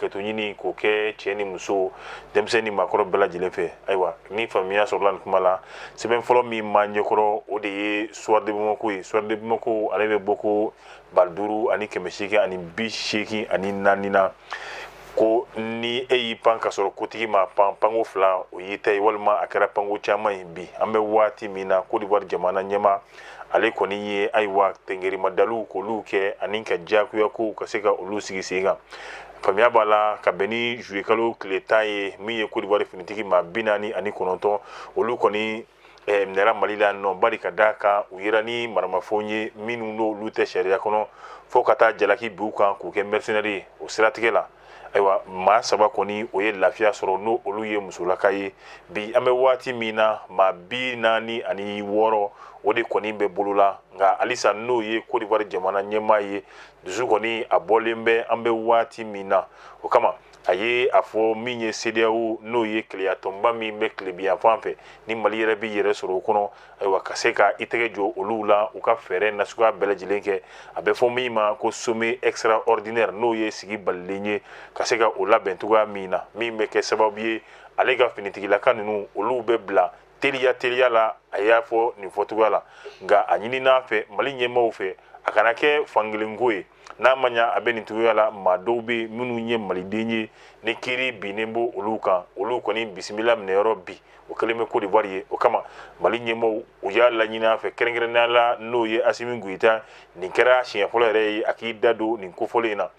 hakɛto ɲini k'o kɛ cɛ ni muso denmisɛn ni maakɔrɔ bɛɛ lajɛlen fɛ ayiwa ni faamuya sɔrɔla nin kuma la sɛbɛn fɔlɔ min b'an ɲɛkɔrɔ o de ye Soir de Bamako ye Soir de Bamako ale bɛ bɔ ko ba duuru ani kɛmɛ seegin ani bi seegin ani naani na ko ni e y'i pan ka sɔrɔ kotigi ma pan panko fila o y'i ta ye walima a kɛra panko caman ye bi an bɛ waati min na kodiwari jamana ɲɛmaa ale kɔni ye ayiwa tengerimadaliw k'olu kɛ ani ka diyagoya kow ka se ka olu sigi sen kan faamuya b'a la ka bɛn ni zuye kalo tile tan ye min ye kodiwari finitigi maa bi naani ani kɔnɔntɔn olu kɔni eh, minɛra mali la nɔ bari ka da kan u yera ni maramafɛnw ye minnu n'olu tɛ sariya kɔnɔ fɔɔ ka taa jalaki bin u kan k'u kɛ mɛrisinɛri ye o siratigɛ la ayiwa maa saba kɔni o ye lafiya sɔrɔ n'o olu ye musolaka ye bi an bɛ waati min na maa bi naani ani wɔɔrɔ o de kɔni bɛ bolo la nka halisa n'o ye kodiwari jamana ɲɛmaa ye dusu kɔni a bɔlen bɛ an bɛ waati min na o kama a ye a fɔ min ye CEDEAO n'o ye kelenya tɔnba min bɛ tilebinyanfan fɛ ni Mali yɛrɛ b'i yɛrɛ sɔrɔ o kɔnɔ ayiwa ka se ka i tɛgɛ jɔ olu la u ka fɛɛrɛ nasuguya bɛɛ lajɛlen kɛ a bɛ fɔ min ma ko sommet extraordinaire n'o ye sigi balilen ye ka se ka o labɛn cogoya min na min bɛ kɛ sababu ye ale ka finitigilaka ninnu olu bɛ bila teliya teliya la a y'a fɔ nin fɔcogoya la nka a ɲinin'a fɛ Mali ɲɛmaaw fɛ a kana kɛ fankelenko ye n'a ma ɲa a bɛ nin cogoya la maa dɔw bɛ minnu ye maliden ye ni kiri binnen bɛ olu kan olu kɔni bisimila minɛyɔrɔ bi o kɛlen bɛ kodiwari ye o kama mali ɲɛmɔgɔw y'a laɲini a fɛ kɛrɛnkɛrɛnnenya la n'o ye Asimi Goyita nin kɛra siɲɛ fɔlɔ yɛrɛ ye a k'i da don nin kofɔlen in na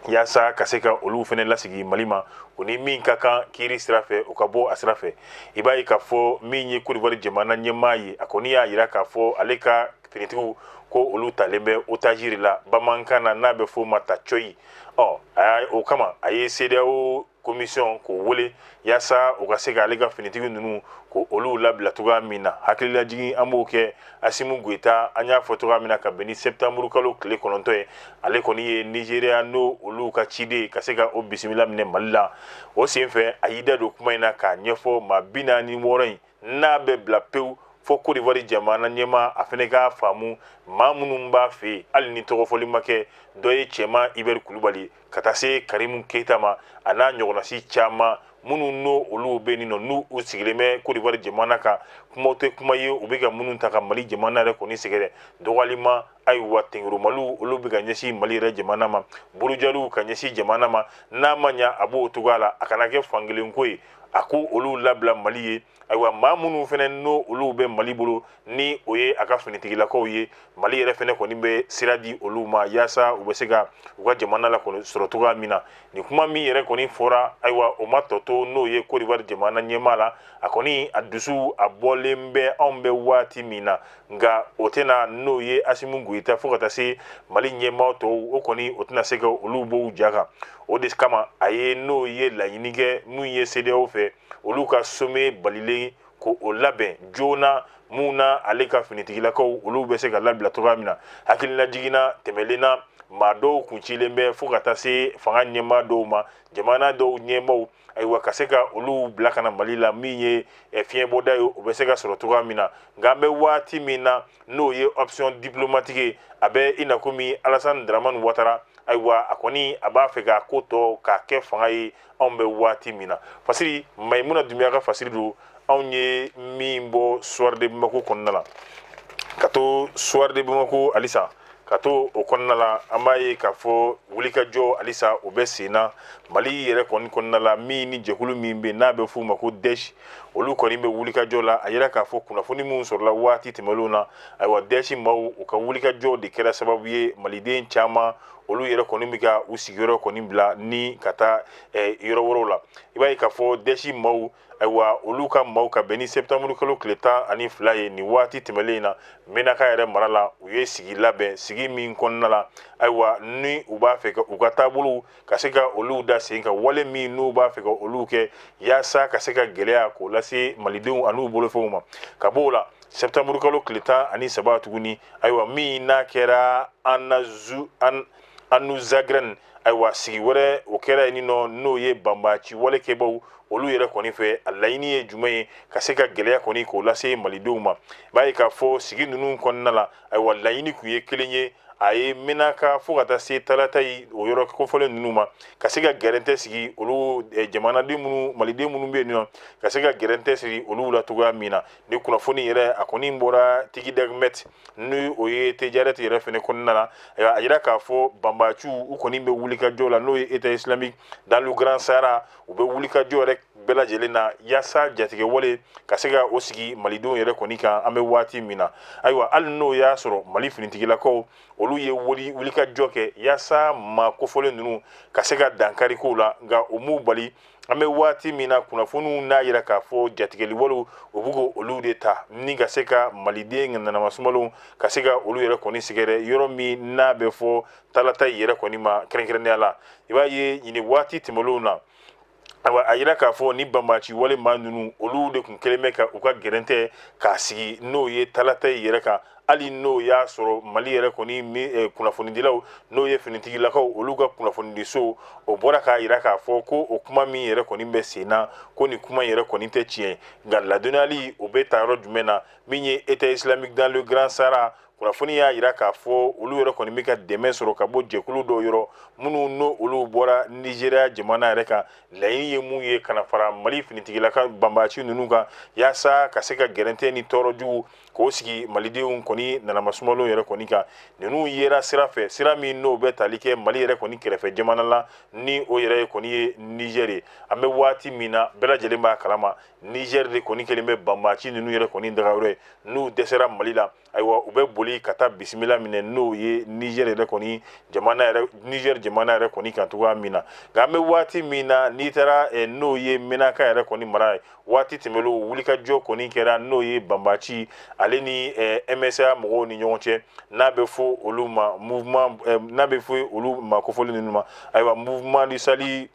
yaasa ka se ka olu fɛnɛ lasigi mali ma o ni min ka kan kiri sira fɛ o ka bɔ a sira fɛ i b'a ye k'a fɔ min ye kodiwari jamana ɲɛmaa ye a kɔni y'a yira k'a fɔ ale ka finitigiw ko olu talen bɛ otage la bamanankan na n'a bɛ f'o ma ta coyi ɔ a o kama a ye CEDEAO komisiyɔn k'o wele yaasa u ka se ka ale ka finitigi ninnu ko olu labila cogoya min na hakililajigin an b'o kɛ Asimi Goyita an y'a fɔ cogoya min na ka bɛn ni sɛtanburu kalo tile kɔnɔntɔn ye ale kɔni ye Nizeriya n'o olu ka ciden ka se ka o bisimila minɛ mali la o senfɛ a y'i da don kuma in na k'a ɲɛfɔ maa bi naani ni wɔɔrɔ in n'a bɛ bila pewu fɔ Cote d'Ivoire jamana ɲɛmaa a fɛnɛ k'a faamu maa minnu b'a fɛ yen hali ni tɔgɔfɔli ma kɛ dɔ ye Cɛman Ibɛri Kulubali ka taa se Karimu Keyita ma a n'a ɲɔgɔnnasi caman minnu n'o olu bɛ nin nɔ n'u u sigilen bɛ Cote d'Ivoire jamana kan kumaw tɛ kuma ye u bɛ ka minnu ta ka Mali jamana yɛrɛ kɔni sɛgɛrɛ dɔgɔyalima ayiwa tenkurumaliw olu bɛ ka ɲɛsin Mali yɛrɛ jamana ma burujaliw ka ɲɛsin jamana ma n'a ma ɲa a b'o cogoya la a kana kɛ fankelen ko ye a ko olu labila mali ye ayiwa maa minnu fɛnɛ n'o olu bɛ mali bolo ni o ye a ka finitigilakaw ye mali yɛrɛ fɛnɛ kɔni bɛ sira di olu ma yaasa u bɛ se ka u ka jamana la kɔni sɔrɔ cogoya min na nin kuma min yɛrɛ kɔni fɔra ayiwa o ma tɔ to n'o ye kɔdiwari jamana ɲɛmaa la a kɔni a dusu a bɔlen bɛ anw bɛ waati min na nka o tɛna n'o ye asimu goyita fo ka taa se mali ɲɛmaa tɔw o kɔni o tɛna se ka olu bɔ u ja kan o de kama a ye n'o ye laɲini kɛ mun ye cedeao fɛ olu ka sommet balilen ko o labɛn joona mun na ale ka finitigilakaw olu bɛ se ka labila cogoya min na hakililajigin na tɛmɛnen na maa dɔw kun cilen bɛ fo ka taa se fanga ɲɛmaa dɔw ma jamana dɔw ɲɛmaaw ayiwa ka se ka olu bila ka na mali la min ye eh, fiɲɛbɔda ye o bɛ se ka sɔrɔ cogoya min na nka an bɛ waati min na n'o ye option diplomatique ye a bɛ i na komi alasani daramani watara ayiwa a kɔni a b'a fɛ k'a ko tɔ k'a kɛ fanga ye anw bɛ waati min na fasiri mayimuna dunbiya ka fasiri don anw ye min bɔ soir de bamako kɔnɔna la ka to soir de bamako halisa ka to o kɔnɔna la an b'a ye k'a fɔ wulikajɔ halisa o bɛ sen na mali yɛrɛ kɔni kɔnɔna la min ni jɛkulu min bɛ n'a bɛ f'u ma ko daesh olu kɔni bɛ wulikajɔ la a yira k'a fɔ kunnafoni minnu sɔrɔla waati tɛmɛnlenw na ayiwa daesh maaw u ka wulikajɔ de kɛra sababu ye maliden caman olu yɛrɛ kɔni bɛ ka u sigiyɔrɔ kɔni bila ni ka taa yɔrɔ wɛrɛw la i b'a ye k'a fɔ daesh maaw ayiwa olu ka maaw ka bɛn ni septembre kalo tile tan ani fila ye nin waati tɛmɛlen in na menaka yɛrɛ mara la u ye sigi labɛn sigi min kɔnɔna la ayiwa ni u b'a fɛ ka u ka taabolow ka se ka olu da sen ka wale min n'u b'a fɛ ka olu kɛ yaasa ka se ka gɛlɛya k'o lase malidenw an'u bolofɛnw ma ka b'o la septembre kalo tile tan ani saba tuguni ayiwa min n'a kɛra an na zu an anuzagrɛn ayiwa sigi wɛrɛ o kɛra yen nɔ n'o ye banbaci walekɛbaw olu yɛrɛ kɔni fɛ a laɲini ye jumɛn ye ka se ka gɛlɛya kɔni k'o lase malidenw ma b'a ye k'a fɔ sigi ninnu kɔnɔna la ayiwa laɲini tun ye kelen ye a ye menaka fo ka taa se talatayi o yɔrɔ kofɔlen ninnu ma ka se ka gɛrɛntɛ sigi olu jamanaden minnu maliden minnu bɛ yen nɔ ka se ka gɛrɛntɛ sigi olu la cogoya min na ni kunnafoni yɛrɛ a kɔni bɔra tigi dagmɛti ni o ye tɛjarɛti yɛrɛ fɛnɛ kɔnɔna na a yira k'a fɔ banbaciw u kɔni bɛ wulikajɔ la n'o ye état islamique dans le grand sahara u bɛ wulikajɔ yɛrɛ bɛɛ lajɛlen na yaasa jatigɛwale ka se ka o sigi malidenw yɛrɛ kɔni kan an bɛ waati min na ayiwa hali n'o y'a sɔrɔ mali finitigilakaw olu ye wulikajɔ kɛ yaasa maa kofɔlen ninnu ka se ka dankari k'u la nka o m'u bali an bɛ waati min na kunnafoniw n'a yira k'a fɔ jatigɛli walew o bɛ k'o olu de ta ni ka se ka maliden nanamasumalenw ka se ka olu yɛrɛ kɔni sɛgɛrɛ yɔrɔ min n'a bɛ fɔ talatayi yɛrɛ kɔni ma kɛrɛnkɛrɛnnenya la i b'a ye nin waati tɛmɛnlenw na ayiwa a yira k'a fɔ ni banbaaci wale maa ninnu olu de tun kɛlen bɛ ka u ka gɛrɛntɛ k'a sigi n'o ye talatayi yɛrɛ kan hali n'o y'a sɔrɔ mali yɛrɛ kɔni eh, kunnafonidilaw n'o ye finitigilakaw olu ka kunnafonidiso o bɔra k'a yira k'a fɔ ko o kuma min yɛrɛ kɔni bɛ sen na ko nin kuma yɛrɛ kɔni tɛ tiɲɛ nka ladɔnniyali o bɛ ta yɔrɔ jumɛn na min ye état islamique dans le grand sahara kunnafoni y'a yira k'a fɔ olu yɛrɛ kɔni bɛ ka dɛmɛ sɔrɔ ka bɔ jɛkulu dɔw yɔrɔ minnu n'o olu bɔra nizeriya jamana yɛrɛ kan laɲini ye mun ye ka na fara mali finitigilaka banbaaci ninnu kan yaasa ka se ka gɛrɛntɛ ni tɔɔrɔ jugu k'o sigi malidenw kɔni nanamasumalenw yɛrɛ kɔni kan ninnu yera sira fɛ sira min n'o bɛ tali kɛ mali yɛrɛ kɔni kɛrɛfɛ jamana la ni o yɛrɛ kɔni ye nizɛr ye an bɛ waati min na bɛɛ lajɛlen b'a kalama nizɛr de kɔni kɛlen bɛ banbaaci ninnu yɛrɛ kɔni dagayɔrɔ ye n'u dɛsɛra mali la ayiwa u bɛ boli ka taa bisimila minɛ n'o ye nizɛr yɛrɛ kɔni ye nizɛr jamana yɛrɛ kɔni kan cogoya min na nka an bɛ waati min na n'i taara eh, n'o ye menaka yɛrɛ kɔni mara ye waati tɛmɛnlenw wulikajɔ kɔni kɛra n'o ye banbaaci ale ni ɛmɛsa mɔgɔw ni ɲɔgɔn cɛ n'a bɛ fɔ olu ma n'a bɛ fɔ olu ma kofɔlen ninnu ma ayiwa mouvement du salut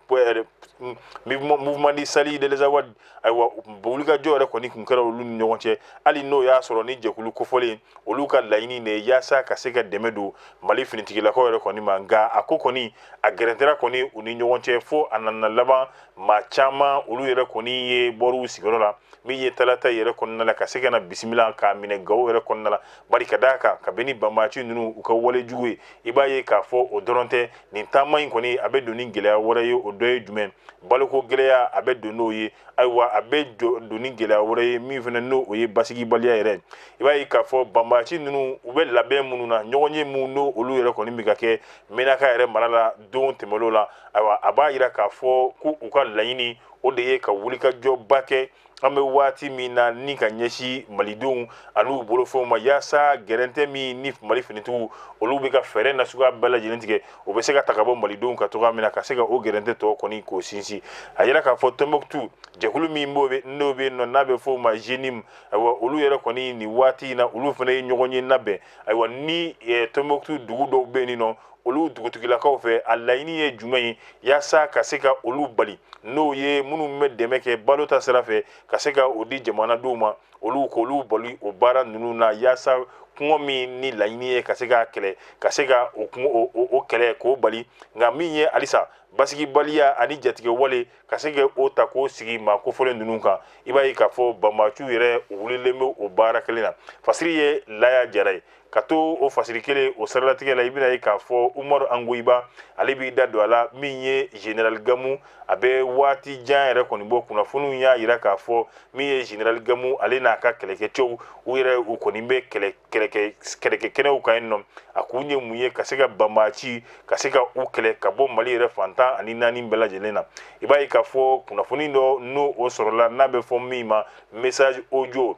mouvement du salut de l'azawad ayiwa wulikajɔ yɛrɛ kɔni tun kɛra olu ni ɲɔgɔn cɛ hali n'o y'a sɔrɔ ni jɛkulu kofɔlen olu ka laɲini de ye yaasa ka se ka dɛmɛ don mali finitigilakaw yɛrɛ kɔni ma nka a ko kɔni a gɛrɛntɛra kɔni u ni ɲɔgɔn cɛ fo a nana laban maa caman olu yɛrɛ kɔni ye bɔr'u sigiyɔrɔ la min ye talata yɛrɛ kɔnɔna la ka se ka na bisimila k'a minɛ gawo yɛrɛ kɔnɔna la bari ka d'a kan kabini banbaaci ninnu u ka wale jugu ye i b'a ye k'a fɔ o dɔrɔn tɛ nin taama in kɔni a bɛ don ni gɛlɛya wɛrɛ ye o dɔ ye jumɛn baloko gɛlɛya a bɛ don n'o ye ayiwa a bɛ don ni gɛlɛya wɛrɛ ye min fana n'o o ye basigibaliya yɛrɛ i b'a ye k'a fɔ banbaaci ninnu u bɛ labɛn minnu na ɲɔgɔnye minnu n'o olu yɛrɛ kɔni bɛ ka kɛ menaka yɛrɛ mara la don tɛmɛnlenw la ayiwa a b'a yira k'a fɔ ko u ka laɲini o de ye ka wulikajɔba kɛ an bɛ waati min na ni ka ɲɛsin malidenw an'u bolofɛnw ma yaasa gɛrɛntɛ min ni mali finitigiw olu bɛ ka fɛɛrɛ na suguya bɛɛ lajɛlen tigɛ o bɛ se ka ta ka bɔ malidenw kan cogoya min na ka se ka o gɛrɛntɛ tɔ kɔni k'o sinsin a yira k'a fɔ tɔnbukutu jɛkulu min bɛ n'o bɛ yen nɔ n'a bɛ fɔ o ma jenim ayiwa olu yɛrɛ kɔni nin waati in na olu fana ye ɲɔgɔnye labɛn ayiwa ni tɔnbukutu dugu dɔw bɛ yen nɔ olu dugutigilakaw fɛ a laɲini ye jumɛn ye yaasa ka se ka olu bali n'o ye minnu bɛ dɛmɛ kɛ balo ta sira fɛ ka se ka o di jamanadenw ma olu k'olu bali o baara ninnu na yaasa kɔngɔ min ni laɲini ye ka se k'a kɛlɛ ka se ka o kɛlɛ k'o bali nka min ye halisa basigibaliya ani jatigɛ wale ka se ka o ta k'o sigi maa kofɔlen ninnu kan i b'a ye k'a fɔ banbaciw yɛrɛ wulilen bɛ o baara kelen na fasiri ye laya jara ye ka to o fasiri kelen o saralatigɛ la i bɛna ye k'a fɔ umaru ongoyiba ale b'i da don a la min ye general gamu a bɛ waati jan yɛrɛ kɔni bɔ kunnafoniw y'a jira k'a fɔ min ye general gamu ale n'a ka kɛlɛkɛcɛw u yɛrɛ u kɔni bɛ kɛlɛkɛ kɛnɛw kan yen nɔ a kun ye mun ye ka se ka banbaci ka se ka u kɛlɛ ka bɔ mali yɛrɛ fan tan ani naani bɛɛ lajɛlen na i b'a ye k'a fɔ kunnafoni dɔ n'o o sɔrɔla n'a bɛ fɔ min ma message audio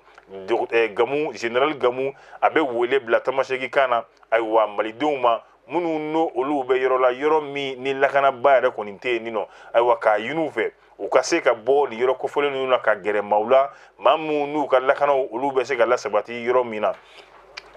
eh, gamu general gamu a bɛ wele bila tamasegi kan na ayiwa malidenw ma minnu n'o olu bɛ yɔrɔ la yɔrɔ min ni lakanaba yɛrɛ kɔni tɛ yen nin nɔ ayiwa k'a ɲini u fɛ u ka se ka bɔ nin yɔrɔ kofɔlen ninnu na ka gɛrɛ maaw la maa minnu n'u ka lakanaw olu bɛ se ka lasabati yɔrɔ min na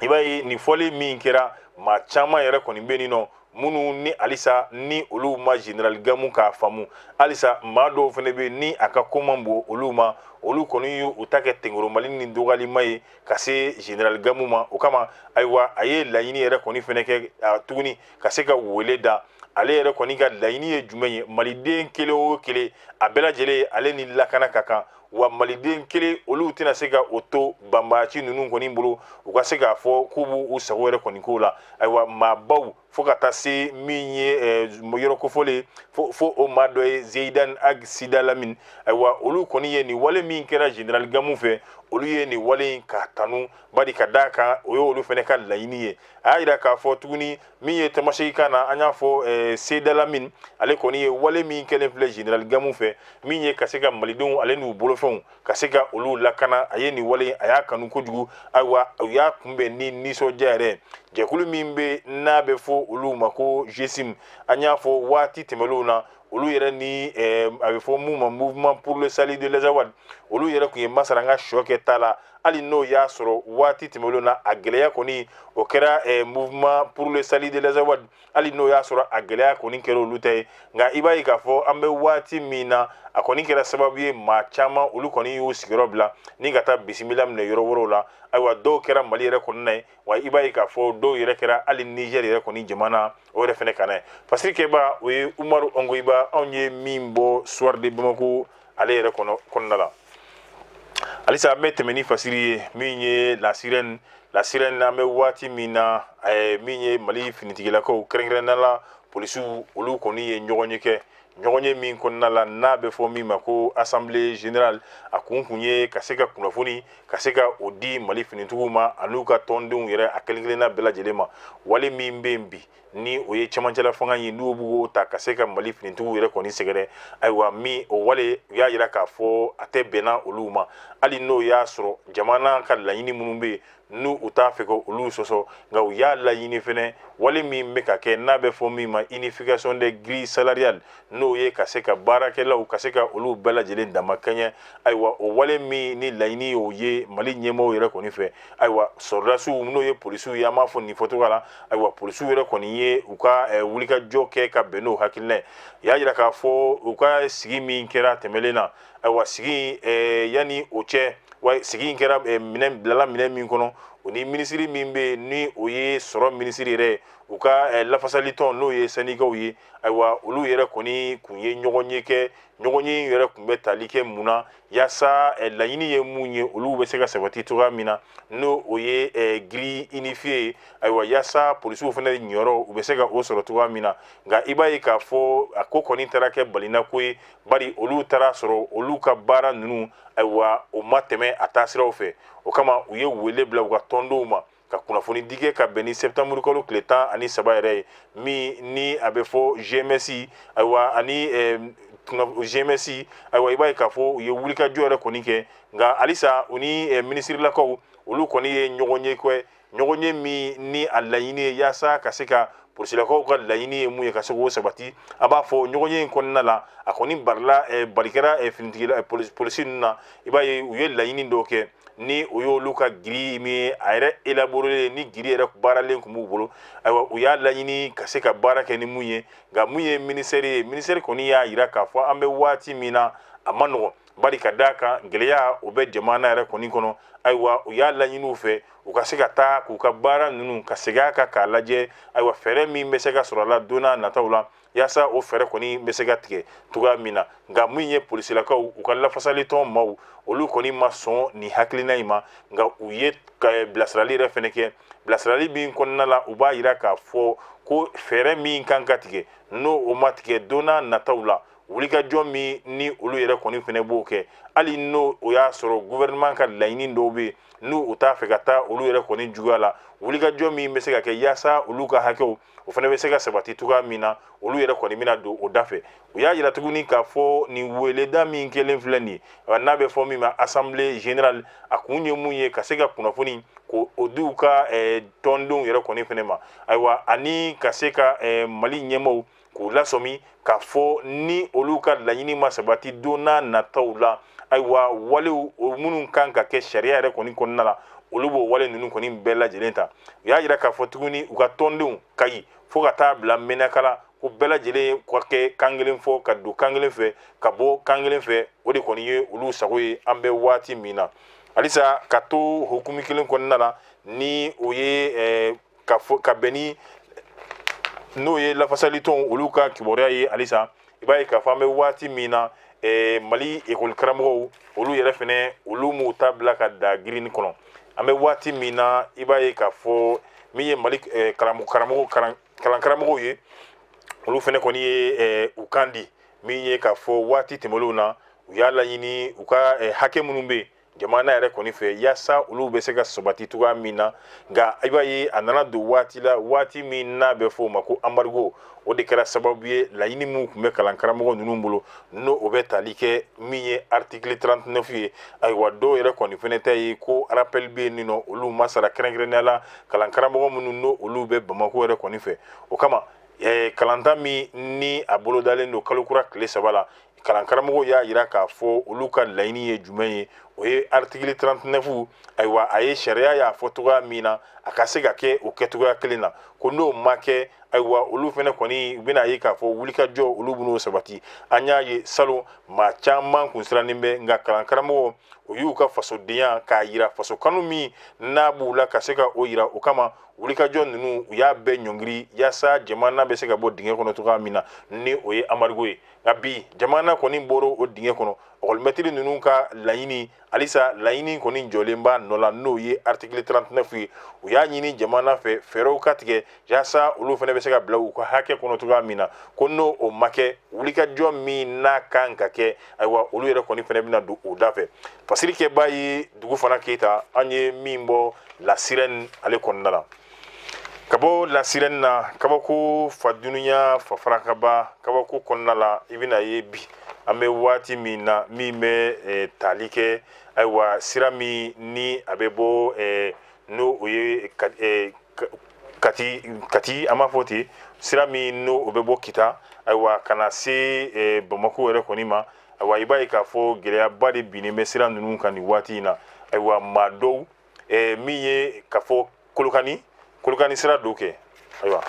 i b'a ye nin fɔli min kɛra maa caman yɛrɛ kɔni bɛ nin nɔ minnu ni halisa ni olu ma general gamu ka faamu halisa maa dɔw fana bɛ ni a ka ko man bon olu ma olu kɔni y'u ta kɛ tenkoromali ni dɔgɔyalima ye ka se general gamu ma o kama ayiwa a ye laɲini yɛrɛ kɔni fana kɛ tuguni ka se ka wele da ale yɛrɛ kɔni ka laɲini ye jumɛn ye maliden kelen o kelen a bɛɛ lajɛlen ale ni lakana ka kan wa maliden kelen olu tɛna se ka o to banbaaci ninnu kɔni bolo u ka se k'a fɔ k'u b'u sago yɛrɛ kɔni k'o la ayiwa maabaw fo ka taa se min ye eh, yɔrɔ kofɔlen fo o maa dɔ ye zeyidan ag sidalamin ayiwa olu kɔni ye nin wale min kɛra general gamu fɛ olu ye nin wale in ka tanu bari ka d'a kan o ye olu fana ka laɲini ye a y'a jira k'a fɔ tuguni min ye tamasegi kan na an y'a fɔ eh, sidalamin ale kɔni ye wale min kɛlen filɛ general gamu fɛ min ye ka se ka malidenw ale n'u bolofɛnw ka se ka olu lakana a ye nin wale a y'a kanu kojugu ayiwa u y'a kunbɛn ni nisɔndiya yɛrɛ jɛkulu min bɛ n'a bɛ fɔ olu ma ko GSIM an y'a fɔ waati tɛmɛlenw na olu yɛrɛ ni eh, a bɛ fɔ mun ma mouvement pour le salut de l'Azawad olu yɛrɛ tun ye masara n ka sɔ kɛ ta la hali n'o y'a sɔrɔ waati tɛmɛnlenw na a gɛlɛya kɔni o kɛra eh, mouvement pour le salut de l'Azawad hali n'o y'a sɔrɔ a gɛlɛya kɔni kɛra olu ta ye nka i b'a ye k'a fɔ an bɛ waati min na a kɔni kɛra sababu ye maa caman olu kɔni y'u sigiyɔrɔ bila ni ka taa bisimila minɛ yɔrɔ wɛrɛw la ayiwa dɔw kɛra mali yɛrɛ kɔnɔna ye wa i b'a ye k'a fɔ dɔw yɛrɛ kɛra hali niger yɛrɛ kɔni jamana o yɛrɛ fana kan a fasiri kɛbaa o ye umaru ongoyiba anw ye min bɔ soir de bamako ale yɛrɛ kɔnɔna la halisa an bɛ tɛmɛ ni fasiri ye min ye la sirène la sirène an bɛ waati min na min ye mali finitigilakaw kɛrɛnkɛrɛnnala polisiw olu kɔni ye ɲɔgɔnye kɛ ɲɔgɔn ye min kɔnɔna la n'a bɛ fɔ min ma ko assemblée générale a kun kun ye ka se ka kunnafoni ka se ka o di mali finitigiw ma an'u ka tɔndenw yɛrɛ a kelen kelenna bɛɛ lajɛlen ma wale min bɛ yen bi ni o ye cɛmancɛla fanga ye n'u b'o ta ka se ka mali finitigiw yɛrɛ kɔni sɛgɛrɛ ayiwa min o wale u y'a yira k'a fɔ a tɛ bɛnna olu ma hali n'o y'a sɔrɔ jamana ka laɲini minnu bɛ yen n'u u t'a fɛ ka olu sɔsɔ nka u y'a laɲini fɛnɛ wale min bɛ ka kɛ n'a bɛ fɔ min ma unification des grilles salariales n'o ye ka se ka baarakɛlaw ka se ka olu bɛɛ lajɛlen dama kɛɲɛ ayiwa o wale min ni laɲini y'o ye mali ɲɛmɔgɔw yɛrɛ kɔni fɛ ayiwa sɔrɔdasiw n'o ye polisiw ye an b'a fɔ nin fɔcogo la ayiwa polisiw yɛrɛ kɔni ye u ka eh, wulikajɔ kɛ ka bɛn n'o hakilina ye y'a jira k'a fɔ u ka sigi min kɛra tɛmɛlen na ayiwa sigi eh, yanni o cɛ wa sigi in kɛra eh, minɛn bilala minɛn min kɔnɔ u ni minisiri min bɛ yen ni o ye sɔrɔ minisiri yɛrɛ ye u ka eh, lafasali tɔn n'o ye sɛndikaw ye ayiwa olu yɛrɛ kɔni kun ye ɲɔgɔn ye kɛ ɲɔgɔn ye in yɛrɛ kun bɛ tali kɛ mun na yaasa eh, laɲini ye mun ye olu bɛ se ka sabati cogoya min na n'o o ye eh, grille unifiée ye ayiwa yaasa polisiw fana niyɔrɔ u bɛ se ka o sɔrɔ cogoya min na nka i b'a ye k'a fɔ a ko kɔni taara kɛ balinako ye bari olu taara sɔrɔ olu ka baara ninnu ayiwa o ma tɛmɛ a taasiraw fɛ o kama u ye wele bila u ka tɔndenw ma ka kunnafoni di kɛ ka bɛn ni sɛtanburukalo tile tan ani saba yɛrɛ ye min ni a bɛ fɔ GMS ayiwa ani GMS ayiwa i b'a ye k'a fɔ u ye wulikajɔ yɛrɛ kɔni kɛ nka halisa u ni minisirilakaw olu kɔni ye ɲɔgɔn ye kɛ ɲɔgɔn ye min ni a laɲini ye yaasa ka se ka polisilakaw ka laɲini ye mun ye ka se k'o sabati a b'a fɔ ɲɔgɔn ye in kɔnɔna la a kɔni barila eh, barikɛra eh, finitigila eh, polisi ninnu na i b'a ye u ye laɲini dɔw kɛ ni o y'olu ka giri min ye a yɛrɛ elaborelen ni giri yɛrɛ baaralen tun b'u bolo ayiwa u y'a laɲini ka se ka baara kɛ ni mun ye nka mun ye ministère ye ministère kɔni y'a yira k'a fɔ an bɛ waati min na a ma nɔgɔn bari ka d'a kan gɛlɛya o bɛ jamana yɛrɛ kɔni kɔnɔ ayiwa u y'a laɲini u fɛ u ka se ka taa k'u ka baara ninnu ka segin a kan k'a lajɛ ayiwa fɛɛrɛ min bɛ se ka sɔrɔ a la donna nataw la yaasa o fɛɛrɛ kɔni bɛ se ka tigɛ cogoya min na nka min ye polisilakaw u ka lafasali tɔn maaw olu kɔni ma sɔn nin hakilina in ma nka u ye bilasirali yɛrɛ fana kɛ bilasirali min kɔnɔna la u b'a yira k'a fɔ ko fɛɛrɛ min kan ka tigɛ n'o o ma tigɛ donna nataw la wulikajɔ min ni olu yɛrɛ kɔni fɛnɛ b'o kɛ hali n'o o y'a sɔrɔ gouvernement ka laɲini dɔw bɛ yen n'u u t'a fɛ ka taa olu yɛrɛ kɔni juguya la wulikajɔ min bɛ se ka kɛ yaasa olu ka hakɛw o fana bɛ se ka sabati cogoya min na olu yɛrɛ kɔni bɛna don o da fɛ u y'a yira tuguni k'a fɔ nin weleda min kɛlen filɛ nin ye n'a bɛ fɔ min ma assemblée générale a kun ye mun ye ka se ka kunnafoni k'o di u ka tɔndenw yɛrɛ kɔni fɛnɛ ma ayiwa ani ka se ka mali ɲɛmɔgɔw k'u lasɔmi k'a fɔ ni olu ka laɲini ma sabati don n'a nataw la ayiwa walew minnu kan ka kɛ sariya yɛrɛ kɔni kɔnɔna la olu b'o wale ninnu kɔni bɛɛ lajɛlen ta u y'a jira k'a fɔ tuguni u ka tɔndenw kayi fo ka taa bila mɛnaka la ko bɛɛ lajɛlen ka kɛ kan kelen fɔ ka don kan kelen fɛ ka bɔ kan kelen fɛ o de kɔni ye olu sago ye an bɛ waati min na halisa ka to hukumu kelen kɔnɔna na ni o ye ka fɔ ka bɛn ni n'o ye lafasali tɔnw olu ka kibaruya ye halisa i b'a ye k'a fɔ an bɛ waati min na eh, mali ekɔli karamɔgɔw olu yɛrɛ fɛnɛ olu m'u ta bila ka da girinni kɔnɔ an bɛ waati min na i b'a ye k'a fɔ min ye mali eh, karamɔgɔ karamɔgɔ kalan kalan karamɔgɔw ye olu fɛnɛ kɔni ye eh, u kan di min ye k'a fɔ waati tɛmɛlenw na u y'a laɲini u ka eh, hakɛ minnu bɛ jamana yɛrɛ kɔni fɛ yaasa olu bɛ se ka sabati cogoya min na nka i b'a ye a nana don waati la waati min n'a bɛ fɔ o ma ko anbarigo o de kɛra sababu ye laɲini minnu tun bɛ kalan karamɔgɔ ninnu bolo n'o o bɛ tali kɛ min ye artikili 39 ye ayiwa dɔw yɛrɛ kɔni fɛnɛ ta ye ko arapɛli bɛ yen n'o olu ma sara kɛrɛnkɛrɛnnenya la kalan karamɔgɔ minnu n'o olu bɛ bamako yɛrɛ kɔni fɛ o kama kalanta min ni a bolodalen don kalo kura tile saba la kalan karamɔgɔw y'a jira k'a fɔ olu ka laɲini ye jumɛn ye o ye article 39 ayiwa a ye sariya y'a fɔ cogoya min na a ka se ka kɛ o kɛcogoya kelen na ko n'o ma kɛ ayiwa olu fɛnɛ kɔni u bɛna ye k'a fɔ wulikajɔ olu b'u sabati an y'a ye salon maa caman kun sirannen bɛ nka kalan karamɔgɔw y'u ka fasodenya k'a jira faso kanu min n'a b'u la ka se ka o jira o kama wulikajɔ ninnu u y'a bɛɛ ɲɔngiri yaasa jamana bɛ se ka bɔ dingɛ kɔnɔ cogoya min na ni o ye anbarigo ye nka bi jamana kɔni bɔra o dingɛ kɔnɔ ekɔlimɛtiri ninnu ka laɲini halisa laɲini kɔni jɔlen b'a nɔ la n'o ye artikili 39 ye u y'a ɲini jamana fɛ fɛɛrɛw ka tigɛ yaasa olu fana bɛ se ka bila u ka hakɛ kɔnɔ cogoya min na ko n'o o ma kɛ wulikajɔ min n'a kan ka kɛ ayiwa olu yɛrɛ kɔni fana bɛna don o da fɛ fasiri kɛbaa ye dugufana keyita an ye min bɔ lasirɛni ale kɔnɔna na ka bɔ lasirɛni na kabako fa dunya fa farakaba kabako kɔnɔna la i bɛna ye bi an bɛ waati min na min bɛ eh, tali kɛ ayiwa sira min ni a bɛ bɔ eh, n'o o ye ka- eh, ka- kati kati an b'a fɔ ten sira min n'o o bɛ bɔ kita ayiwa ka na se eh, bamako yɛrɛ kɔni ma ayiwa i b'a ye k'a fɔ gɛlɛyaba de binnen bɛ sira ninnu kan nin waati in na ayiwa maa dɔw eh, min ye k'a fɔ kolokani kolokani sira don kɛ ayiwa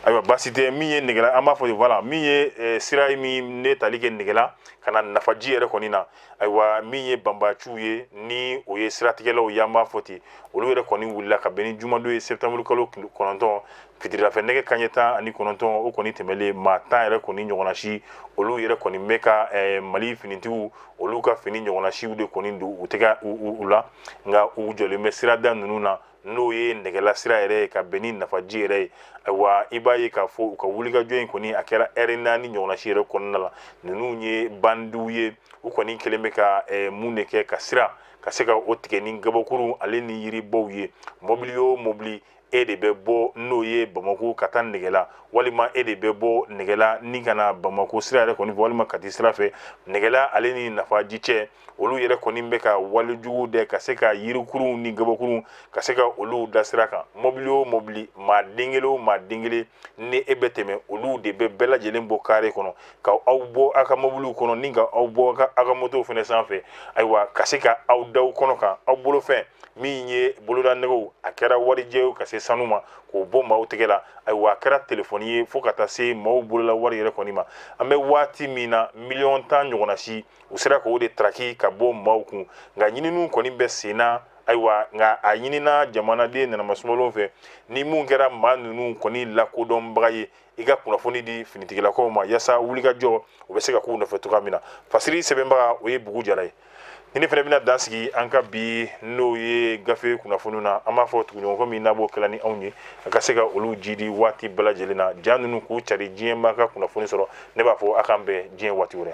ayiwa baasi tɛ min ye negela an b'a fɔ ten voilà min ye eh, sira ye min bɛ tali kɛ negela ka na nafaji yɛrɛ kɔni na ayiwa min ye banbaciw ye ni o ye siratigɛlaw ye an b'a fɔ ten olu yɛrɛ kɔni wulila ka bɛn ni jumadon ye septembre kalo kɔnɔntɔn Fitirida fɛ nɛgɛ kaɲɛ tan ani kɔnɔntɔn o kɔni tɛmɛnlen maa tan yɛrɛ kɔni ɲɔgɔnnasi olu yɛrɛ kɔni bɛ ka mali finitigiw olu ka fini ɲɔgɔnnasiw de kɔni don u tɛ u la nka u jɔlen bɛ sirada ninnu na n'o ye nɛgɛla sira yɛrɛ ka bɛn ni nafaji yɛrɛ ye wa i b'a ye k'a fɔ u ka wulikajɔ in kɔni a kɛra lɛri naani ɲɔgɔnnasi yɛrɛ kɔnɔna la ninnu ye bandiw ye u kɔni kɛlen bɛ ka mun de kɛ ka sira ka se ka o tigɛ ni gabakuru ale ni yiribaw ye mɔbili o mɔbili e de bɛ bɔ n'o ye bamakɔ ka taa nɛgɛla walima e de bɛ bɔ nɛgɛla ni ka na bamakɔ sira yɛrɛ kɔni fɛ walima kati sira fɛ nɛgɛla ale ni nafaji cɛ olu yɛrɛ kɔni bɛ ka walejugu de ka se ka yirikuruw ni gabakuruw ka se ka olu da sira kan mɔbili o mɔbili maa den kelen o maa den kelen ni e bɛ tɛmɛ olu de bɛ bɛɛ lajɛlen bɔ kare kɔnɔ ka aw bɔ aw ka mobiliw kɔnɔ ni ka aw bɔ aw ka motow fɛnɛ sanfɛ ayiwa ka se ka aw da aw kɔnɔ kan aw bolofɛn min ye bolodanɛgɛw a kɛra warijɛw ka se sanu ma k'o bɔ maaw tigɛ la ayiwa a kɛra telefɔni ye fo ka taa se maaw bolola wari yɛrɛ kɔni ma an bɛ waati min na miliyɔn tan ɲɔgɔnnasi u sera k'o de taraki ka bɔ maaw kun nka ɲininiw kɔni bɛ sen na ayiwa nka a ɲinina jamanaden nanamasumalenw fɛ ni mun kɛra maa ninnu kɔni lakodɔnbaga ye i ka kunnafoni di finitigilakaw ma yaasa wulikajɔ u bɛ se ka k'u nɔfɛ cogoya min na fasiri sɛbɛnbaga o ye bugu jara ye ni ne fana bɛna dan sigi an ka bi n'o ye gafe kunnafoniw na an b'a fɔ tuguɲɔgɔnkɔ min n'a b'o kɛla ni anw ye a ka se ka olu jidi waati bɛɛ lajɛlen na ja ninnu k'u cari diɲɛmaa ka kunnafoni sɔrɔ ne b'a fɔ a k'an bɛn diɲɛ waati wɛrɛ